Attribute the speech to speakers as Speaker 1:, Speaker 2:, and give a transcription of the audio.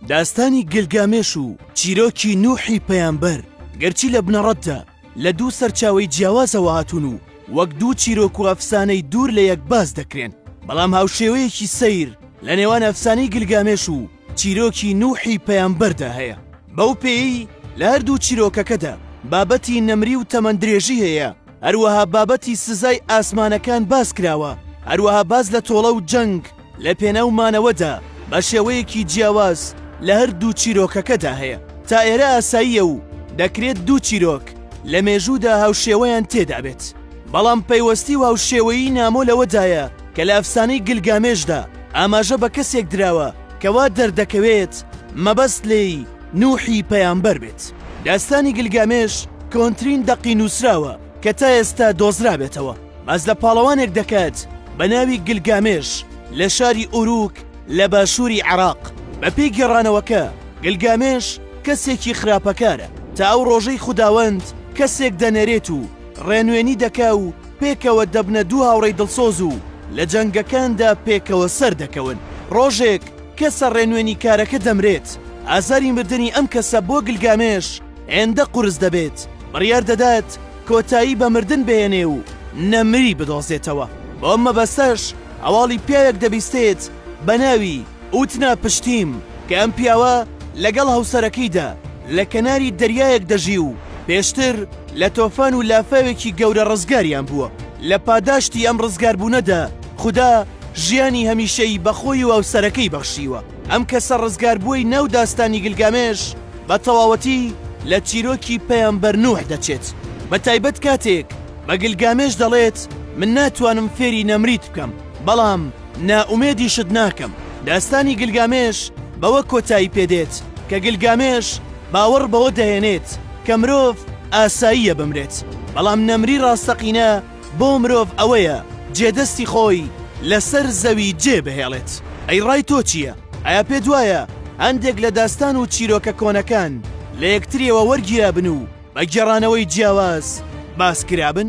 Speaker 1: داستانی گلگامێش و چیرۆکی نوحی پەیامبەر گەرچی لە بنەڕەتدا لە دوو سەرچاوی جیاوازەوە هاتوون و وەک دوو چیرۆک و ئەفسانەی دوور لە یەک باس دەکرێن بەڵام هاوشێوەیەکی سەیر لە نێوان ئەفسانەی گلگامێش و چیرۆکی نوحی پەیامبەردا هەیە بەو پێی لە هەردوو چیرۆکەکەدا بابەتی نەمری و تەمەندرێژی هەیە هەروەها بابەتی سزای ئاسمانەکان باس کراوە هەروەها باس لە تۆڵە و جەنگ لە پێناو مانەوەدا بە شێوەیەکی جیاواز لە هەر دوو چیرۆکەکەدا هەیە، تا ئێرە ئاساییە و دەکرێت دوو چیرۆک لە مێژوودا هاوشێوەیان تێدا بێت، بەڵام پەیوەستی و هاوشێوەیی نامۆ لەوەدایە کە لە ئەفسانەی گلگامێشدا ئاماژە بە کەسێک دراوە کە وا دەردەکەوێت مەبەست لێی نوحی پەیامبەر بێت. داستانی گلگامێش کۆنترین دەقی نووسراوە کە تا ئێستا دۆزرابێتەوە. باس لە پاڵەوانێک دەکات بە ناوی گلگامێش لە شاری ئوروک لە باشووری عێراق بەپێی گێڕانەوەکە گلگامێش کەسێکی خراپەکارە تا ئەو ڕۆژەی خوداوەند کەسێک دەنێرێت و ڕێنوێنی دەکا و پێکەوە دەبنە دوو هاوڕێی دڵسۆز و لە جەنگەکاندا پێکەوە سەر دەکەون ڕۆژێک کەسە ڕێنوێنیکارەکە دەمرێت ئازاری مردنی ئەم کەسە بۆ گلگامێش هێندە قورس دەبێت بڕیار دەدات کۆتایی بە مردن بهێنێ و نەمری بدۆزێتەوە، بەم مەبەستەش هەواڵی پیاوێک دەبیستێت بە ناوی، ئوتنا پشتیم، کە ئەم پیاوە لەگەڵ هەوسەرەکەیدا لە کەناری دەریایەک دەژی و پێشتر لە تۆفان و لافاوێکی گەورە ڕزگاریان بووە، لە پاداشتی ئەم ڕزگاربوونەدا خودا ژیانی هەمیشەیی بە خۆی و هەوسەرەکەی بەخشیوە، ئەم کەسە ڕزگاربووەی ناو داستانی گلگامێش، بە تەواوەتی لە چیرۆکی پەیامبەر نوح دەچێت، بە تایبەت کاتێک بە گلگامێش دەڵێت، من ناتوانم فێری نەمریت بکەم، بەڵام نائومێدیشت ناکەم. داستانی گلگامێش بەوە کۆتایی پێ دێت کە گلگامێش باوەڕ بەوە دەهێنێت کە مرۆڤ ئاساییە بمرێت، بەڵام نەمری ڕاستەقینە، بۆ مرۆڤ ئەوەیە جێدەستی خۆی لەسەر زەوی جێ بهێڵێت، ئەی ڕای تۆ چییە؟ ئایا پێت وایە هەندێک لە داستان و چیرۆکە کۆنەکان لە یەکترییەوە وەرگیرابن و بە گێڕانەوەی جیاواز باس کرابن؟